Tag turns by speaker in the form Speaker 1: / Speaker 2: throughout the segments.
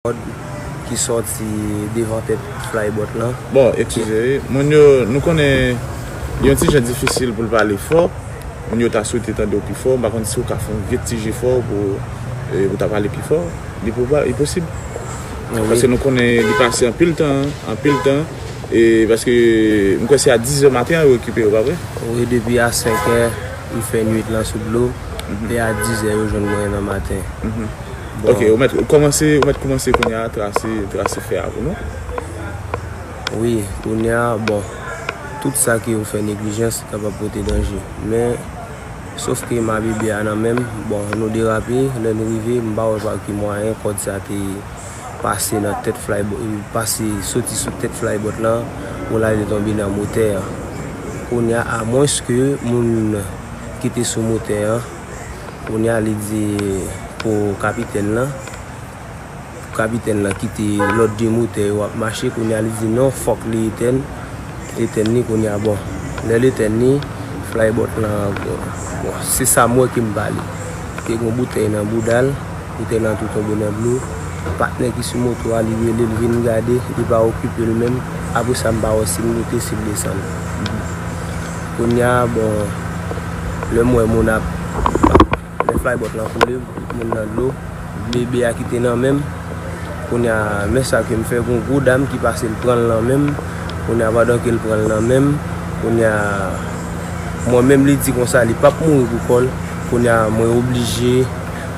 Speaker 1: kòd ki sòti devan tèt flybot lan. Bon eskize wi
Speaker 2: moun yo nou konnen li yon ti jan difisil pou l pale fò moun yo ta swete tande w pi fò m pa konn si w ka fè yon gèt ti jefò pou ou ta pale pi fò li pwobab li posib paske nou konnen li pase anpil tan anpil tan e paske m kwè se a dizè maten an yo rekipe yo pa vre? Wi depi a
Speaker 1: senkè m fè nwit lan sou dlo e a dizè yo jwenn mwen nan maten.
Speaker 2: Ok, ou mèt koumanse, ou mèt koumanse kounya trase, trase fè a pou
Speaker 1: nou. Wi, kounya, bon, tout sa ke ou fè neglijans kapab pote danje. Men, sof ke ma bebe a nan menm, bon, nou derape, lè nou rive, m pa wè pa ki mwayen kòd sa te pase nan tèt flay, pase, soti sou tèt flybot lan, pou l ale tonbe nan motè an. Kounya, amwens ke moun ki te sou motè an. Kounye a li di pou kapitèn lan, pou kapitèn lan kite lòt 2 motè yo ap mache, kounye a li di non fòk li etèn, etèn ni kounye a bon. Lè l etèn ni, flybot lan, bon se sa m wè ke m pale, te gen yon boutèy nan bouda l, boutèy lan tou tonbe nan dlo, patnè ki sou moto a li rele l vin gade, li pa okipe l menm, apre sa m pa wè si l moute, si l desann. Kounya bon lè m wè moun ap lè flybot lan koule tout moun nan dlo bebe a kite nan menm kounya men sa ke m fè gon gwo dam ki pase l pran l nan menm kounya pandan ke l pran l nan menm kounya mwen menm li di konsa li pap mouri pou kò l kounya mwen oblije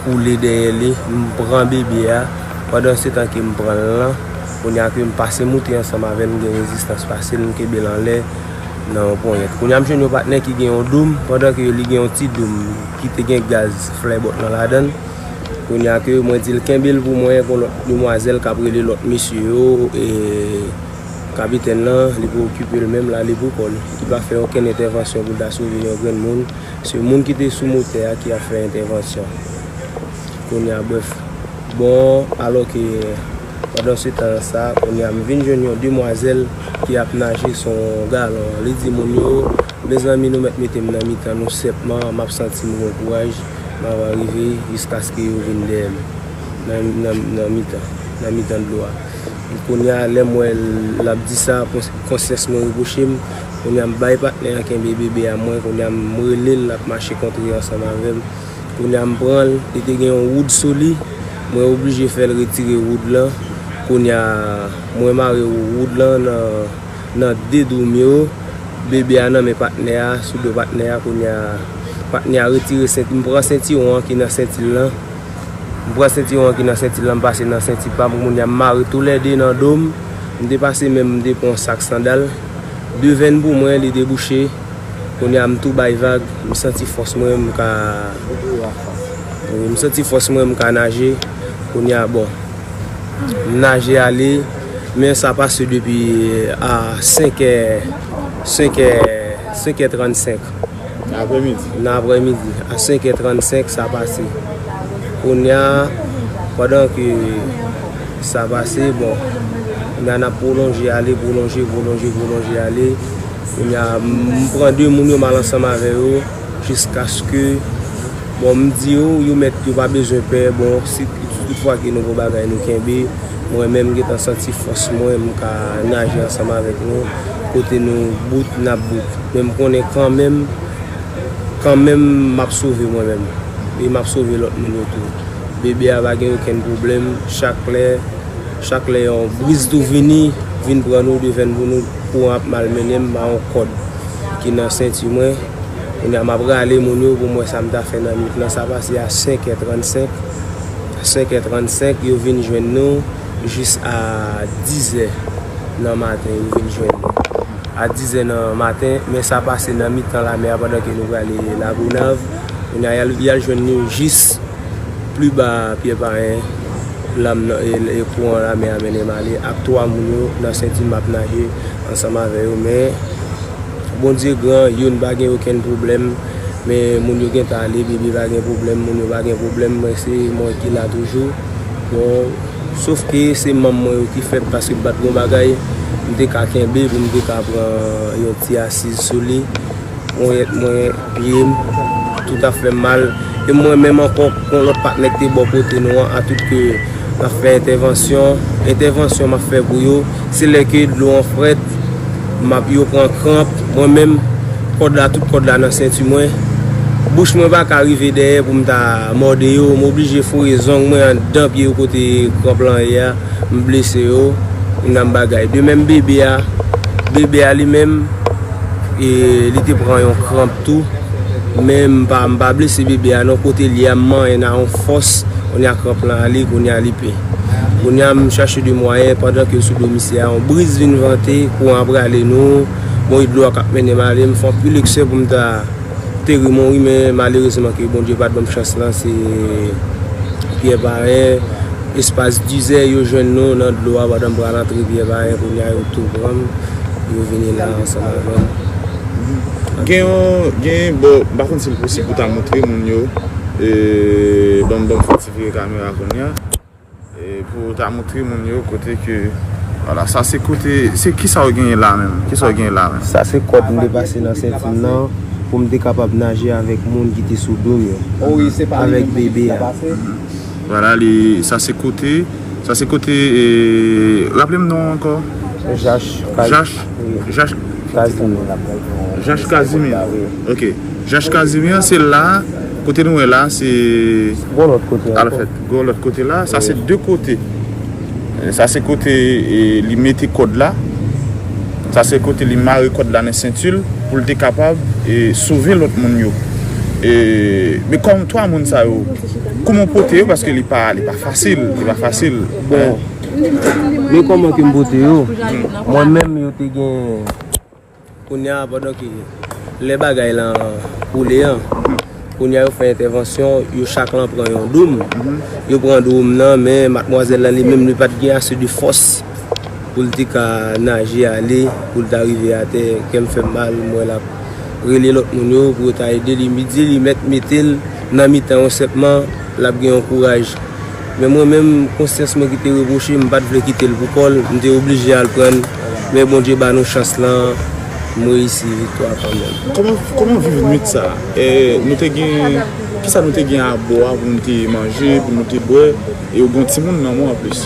Speaker 1: koule dèyè li m pran bebe a pandan se tan ke m pran l lan kounya ke m pase moute ansanm avè l m gen rezistans fasil m kenbe l anlè. nan yon ponyèt. Kounye a m jwenn yon patnè ki gen yon doum, pandan ke li gen yon ti doum ki te gen gaz flè bòt lan ladan l. Kounye a ke mwen di l kenbe l pou mwen, gon lòt demwazèl k ap rele lòt mesye yo, e kapitèn lan li pou okipe l menm l ale pou kò l. Li pa fè okenn entèvansyon pou l ta sove yon grenn moun. Se moun ki te sou motè a ki ap fè entèvansyon. Kounye a brèf. Bon, alò ke pandansetan sa, kounye a m vin jwenn yon demwazèl. ki ap naje sou yon galon an. Li di moun yo, Mezanmi, nou mèt mete m nan mitan nou senpman, m ap santi m gen kouraj, m ap arive jiskaske yo vin dèyè m nan mitan dlo a. Kounye a, lè m wè l ap di sa, konsyans mwen repwoche m. Kounye a, m bay patnè an kenbe bebe a mwen. Kounye a, m rele l, l ap mache kontre ansanm avè m. Kounya m pranl li te gen yon wood sou li mwen oblije fèl retire wood lan kounya mwen mare wood lan nan 2 doum yo bebe a nan men patnè a sou do patnè a kounya patnè a retire senti m pran sentiwon an ki nan sentil lan m pran sentiwon an ki nan sentil lan m pase nan senti pam kounya m mare tou lè 2 nan dom m te pase menm m te pran yon sak sandal devenn pou mwen li debouche. Kounya m tou bay vag, m santi fòs mwen m ka wi m santi fòs mwen m ka naje kounya bon m naje ale men sa pase depi a 5 è 5 è 5 è 35 nan aprèmidi nan aprèmidi a 5 è 35 sa pase kounya pandan ke sa pase bon kounya n ap pwolonje ale pwolonje pwolonje pwolonje ale. Kounye a, m pran de moun yo, m al ansanm avè yo, jiskaske, bon, m di yo, yo mèt, yo pa bezwen pè, bon, si tout fwa ke nou gon bagay nou kenbe, mwen menm m gen tan santi fòs mwen, m ka naje ansanm avèk nou, kote nou bout, n ap bout. Men m konnen kanmenm, kanmenm m ap sove mwen menm, e m ap sove lòt moun yo tou. Bebe a pa gen okenn pwoblèm, chak lè, chak lè yon briz tou vini, vin pran nou, devenn pou nou. Kouran ap malmennen m ba yon kòd ki nan senti mwen. Kounye a m ap rale moun yo pou m wè sa m ta fè nan nuit lan. Sa pase a 5 è 35. 5 è 35 yo vin jwenn nou jis a 10 è nan maten yo vin jwenn nou. A 10 è nan maten men sa pase nan mitan lame a pandan ke nou prale Lagonav. Kounye a y al jwenn nou jis. Pli ba a, Pyè Payen, lam nan e e kouran lame a mennen m ale ak twa moun yo nan senti m ap naje ansanm avè yo men Bondye gran youn pa gen okenn pwoblèm men moun yo gentan ale bebe pa gen pwoblèm moun yo pa gen pwoblèm mwen se mwen ki la toujou bon sof ke se manm mwen yo ki fèb paske bat gon bagay m te ka kenbe pou m te ka pran yon ti asiz sou li. Ponyèt mwen, pye m, tout ap fè m mal. E m wè menm ankò yon lòt patnè ki te bò kote nou an atout ke l ap fè entèvansyon. Entèvansyon m ap fè pou yo, se lè ke dlo an frèt, m ap yo pran kranp. Mwen menm, kòd la, tout kòd la nan senti mwen. Bouch mwen pa ka rive dèyè pou m ta mòde yo. M oblije foure zong mwen anndan pye yo kote kranp lan ye a. M blese yo. Yon dam bagay. De menm bebe a. Bebe a li menm. E li te pran yon kranp tou. Men m pa m pa blese bebe a non kote l ye a m manyen n a yon fòs kounye a kranp lan ale kounye a li pe. Kounye a m chache de mwayen pandan ke l sou do misye a yon briz vin vante kouran an prale nou bon e dlo a k ap mennen m ale m fè yon pil eksè pou m ta peri mouri men malerezman ke Bondye pa t ban m chans lan se Pyè parèy Espas dizè yo jwenn nou nan dlo a pandan m pral antre vyè bayen kounye a yo tou pran m yo vini la ansanm avè m. Gen yon
Speaker 2: gen yon bò m pa konn si l posib pou ta moutre moun yo ban m ban m fè ti vire kamera kounye a pou ta moutre moun yo kote ke wala sa se kote se kisa w genyen la menm kisa w genyen la menm. Sa se
Speaker 1: kòd m te pase nan senti m nan pou m te kapab naje avèk moun ki te sou do m yo avèk bebe a. Vwala
Speaker 2: li sa se kote sa se kote raple m non ankò. Jach kazimi ok jach kazimi an se la kote nou wè la se gwo lòt kote
Speaker 1: an ankò gwo lòt
Speaker 2: kote la sa se de kote sa se kote li mete kòd la sa se kote li mare kòd la nan senti l pou l te kapab sove lòt moun yo e me kòm 3 moun sa yo. Kouman w pote yo paske li pa fasil, li pa fasil. Bon,
Speaker 1: men kouman ke m pote yo, mwen menm yo te gen, kounya pandan ke lè bagay lan koule an, kounya yo fè entèvansyon, yo chak lan pran yon doum, yo pran doum nan, men matmwazèl lan li menm li pat gen ase de fòs. pou l te ka naje ale pou l ta rive atè kè m fè m mal m wè l ap rele lòt moun yo pou yo ta ede li li di li mèt mete l nan mitan yon sèpman l ap gen yon kouraj men mwen menm konsyans mwen ki te repwoche m pa t vle kite l pou kò l m te oblije al pran l men Bondye ba nou chans lan m reyisi viktwa kanmenm. Kòman w viv nuit sa
Speaker 2: a? E nou te gen kisa nou te gen abò a pou nou te manje pou nou te bwè e ou gen yon timoun nan men w anplis?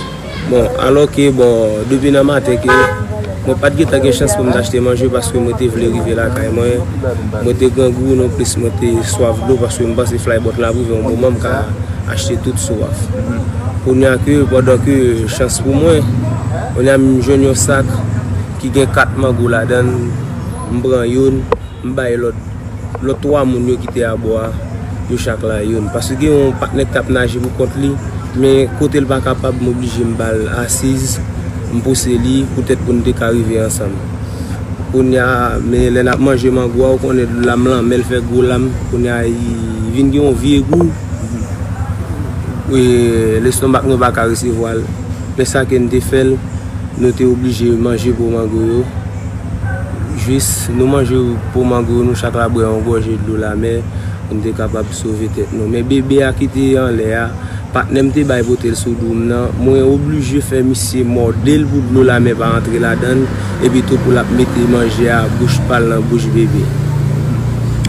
Speaker 2: Bon, alò
Speaker 1: ke bon, depi nan maten ke mwen pa t gen tan gen chans pou m t achte manje paske mwen te vle rive lakay mwen. Mwen te grangou non plis mwen te swaf dlo paske m panse flaybòt la ap rive yon moman m ka achte tout swaf. Kounye a ke, pandan ke chans pou mwen, kounye a m jwenn yon sak ki gen 4 mango ladan l, m pran youn, m bay lòt. Lòt 3 moun yo ki te abò a, yo chak la youn. Paske gen yon patnè ki t ap naje pou kont li, men kote l pa kapab, m oblije m ba l asiz, m pouse li poutèt pou n te ka rive ansanm. Kounye a, men lè n ap manje mango a, ou konnen lam lan, men l fè gwo lam, kounye a li vin gen yon vye gou, lestonmak nou pa ka resevwa l. Men sa ke n te fè l, nou te oblije manje gwo mango yo. Jis nou manje po mango yo nou chak la bwè yon gòje dlo lamè pou n te kapab sove tèt nou. Men bebe a ki te anlè a, patnè m te bay pote l sou do m nan, mwen oblije fè misye mòde l pou dlo lamè pa antre ladan l, epitou pou l ap mete manje a bouch pa l nan bouch bebe
Speaker 2: a.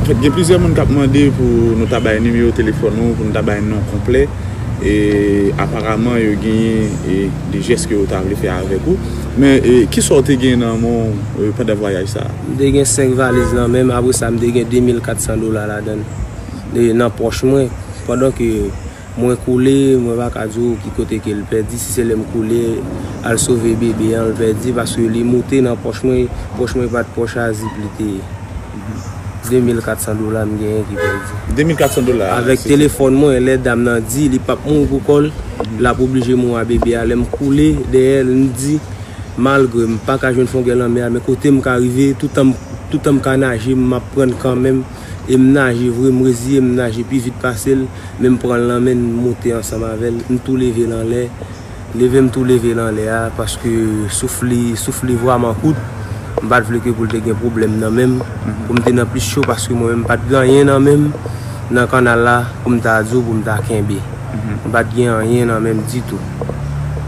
Speaker 2: Anfèt, gen plizyè moun k ap mande pou nou ta bay nimewo telefòn ou, pou nou ta bay non konplè, e aparaman yo genyen de jès ke yo ta vle fè avèk ou. Men, ki sa w te gen nan men w pandan vwayaj sa a? M te gen senk valiz
Speaker 1: nan men m, apre sa m te gen 2400 dola ladan l, nan pòch mwen. Pandan ke mwen koule, mwen pa ka di w ki kote ke l pèdi, si se lè m koule al sove bebe an l pèdi, paske li moute nan pòch mwen, pòch mwen pa t pòch a zip li te ye. 2400 dola m genyen ki pèdi. 2400 dola. Avèk telefòn
Speaker 2: mwen
Speaker 1: lè dam nan di li pap mouri pou kòl, lap oblije mouri a bebe a lèm koule dèyèl m di malgre m paka jwenn fon gè lanmè a men kotem ka rive toutan m ka naje m map prann kanmenm e m naje vre m reziye m naje pi vit pasel men m pranl nan menl m moute ansanm avèl m tou level anlè Leve m tou leve l anlè a paske souf li souf li vwaman kout m pat vle ke pou l te gen pwoblèm nan men m pou m te nan plis cho paske mwen menm m pat gen anyen nan men m nan kannal la pou m ta di w pou m ta kenbe m pat gen anyen nan men m ditou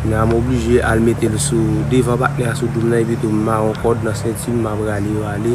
Speaker 1: kounye a m oblije al mete l sou devan patnè a sou do m nan epi tou m mare yon kòd nan senti m m ap rale rale.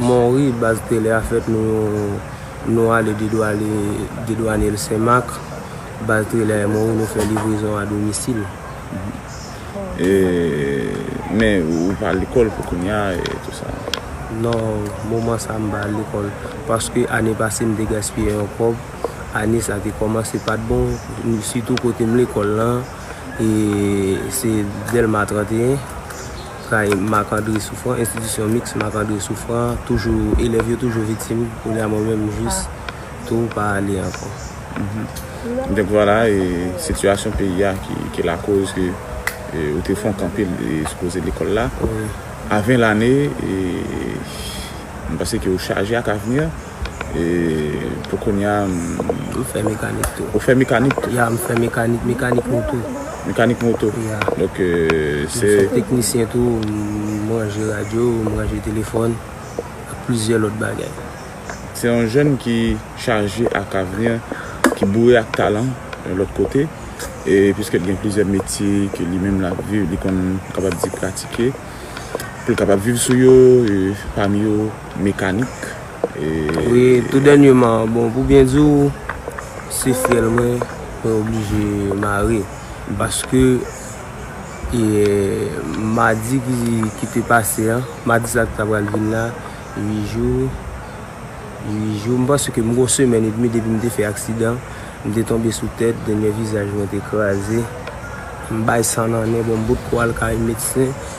Speaker 2: Monri,
Speaker 1: baz tele a fèt nou ale dedwanyel senmak, baz tele a monri nou fè livrezon a domisil.
Speaker 2: Non,
Speaker 1: moman sa m pa al lekòl, paske ane pase m te gaspiye yon kòb, ane sa te kòmanse pat bon, sitou kote m lekòl lan. e se Dèlma 31, kay Marc André Souffrant, enstitisyon miks Marc André Souffrant, toujou, elèv yo toujou viktim, kounye a mwen menm jis tou pa ale ankò. Donk vwala, e
Speaker 2: sitiyasyon peyi a ki lakoz ke ou te fon kanpe sou koze lekòl la, a 20
Speaker 1: lane,
Speaker 2: e mwen panse ke ou chaje ak avni an. E pou kounya m. Ou fè
Speaker 1: mekanik tou. Ou fè mekanik tou? Ya,
Speaker 2: m fè mekanik,
Speaker 1: mekanik moto. Mekanik moto?
Speaker 2: Ya. Ok, se. M fè teknisyen tou,
Speaker 1: m ranje radyo, m ranje telefòn, ak plizyè lòt bagay. Se yon
Speaker 2: jèn ki chaje ak avni, ki boure ak talan yon lòt kote, e piske l gen plizyè metye ke li menm l ap viv, li konn, m kapab di pratike, pou l kapab viv sou yo, e pami yo. Mekanik ee.
Speaker 1: Wi, tou dènyeman, bon pou byen di w, se fyèl mwen mwen oblije mare. Paske madi ki te pase an, madi sa ki ta pral vin la, 8 jou, 8 jou, m panse ke m gen yon semèn edmi depi m te fè aksidan, m te tonbe sou tèt, dènye vizaj mwen te kraze, m bay san nan nen, bon m potko al kay medsen.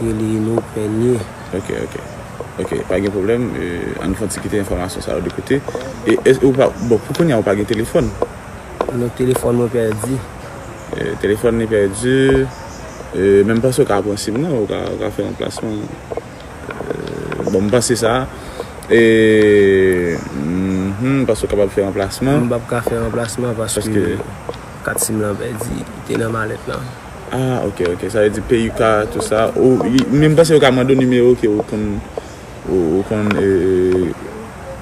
Speaker 1: Rele nou premye. Ok ok
Speaker 2: ok pa gen problem ann fon ti kite enfomasyon sa yo de kote e ou pa bon pou kounya ou pa gen telefon. Non
Speaker 1: telefon mwen pèdi. Telefon
Speaker 2: li pèdi men m panse ou ka pran sim nan ou ka fè yon plasman bon m panse sa e m panse ou kapab fè yon plasman. M pap ka fè yon plasman
Speaker 1: paske kat sim lan pèdi li te nan malèt lan. Ah ok ok
Speaker 2: sa vle di PUK tout sa ou men m panse yo ka mande w nimewo ke ou konn ou konn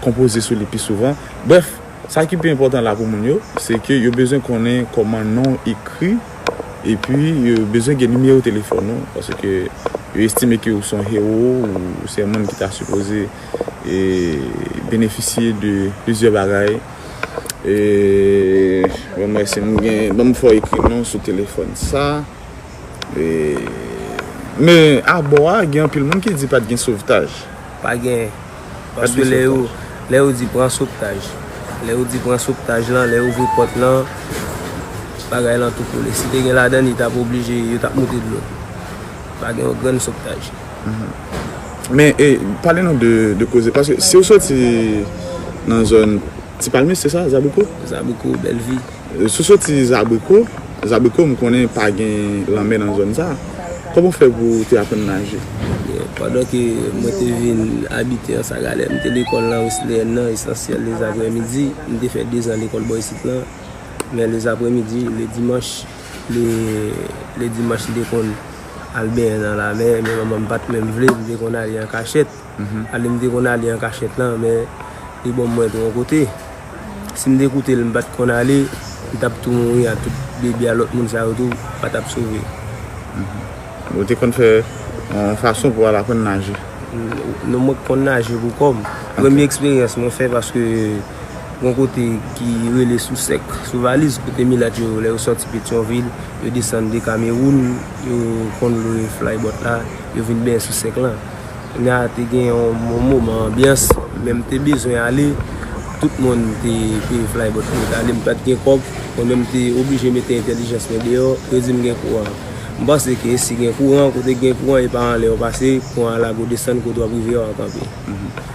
Speaker 2: konpoze sou li pi souvan brèf sa ki pi enpòtan la pou moun yo se ke yo bezwen konnen kòman non w ekri epi yo bezwen gen nimewo telefòn ou paske yo estime ke ou son hewo ou se yon moun ki ta sipoze benefisye de plizyè bagay. Bon mwen se nou gen banm fò ekri non sou telefòn sa. Men a bò a gen anpil moun ki di pat gen sovtaj. Pa gen.
Speaker 1: Paske lè yo lè yo di pran sovtaj. Lè yo di pran sovtaj lan lè yo ouvri pòt lan bagay lan tou koule. Si te gen ladan li tap oblije yo tap moute dlo. Pa gen yon grenn sovtaj.
Speaker 2: Men e pale nou de koze paske si ou soti nan zòn ti palmis se sa zabriko? Zabriko belvi.
Speaker 1: Si ou soti
Speaker 2: zabriko, zabriko m konnen pa gen lanmè nan zòn sa. Koman ou fè pou ou te aprann naje? Pandan ke
Speaker 1: mwen te vin abite ansa galè m te lekòl nan Wesleyèn nan esansyèl lezaprè midi. M te fè dezan lekòl bò isit lan. Men lezaprè midi le dimanch le dimanch m te konn. Al benyen nan lamè, men manman m pat menm vle, m te konn ale an kachèt. Ale m te konn ale an kachèt lan, men li ban mwen tron kote. Si m te koute l, m pat konn ale, m tap tou mouri a tout bebe a lòt moun sa yo tou pa tap sove.
Speaker 2: Ou te konn fè yon fason pou al aprann naje? Non mwen
Speaker 1: konn naje pou kò m. Premye eksperyans mwen fè paske. Gon kote ki rele sou sèk, sou valiz kote milat yo lè yo sòti petyonvil yo desann de kamewoun yo konn lwe flybòt la yo vin benyen sou sèk lan kounye a te gen yon moman anbyans men m te bezwen ale tout moun te peye flybòt pou yo t ale m pat gen kòb mwen menm m te oblije mete entèlijans mwen deyò yo di m gen kouran m panse ke si gen kouran kote gen kouran e pa anlè w pase kouran a lage w desann kote w ap rive a w ap kanpe.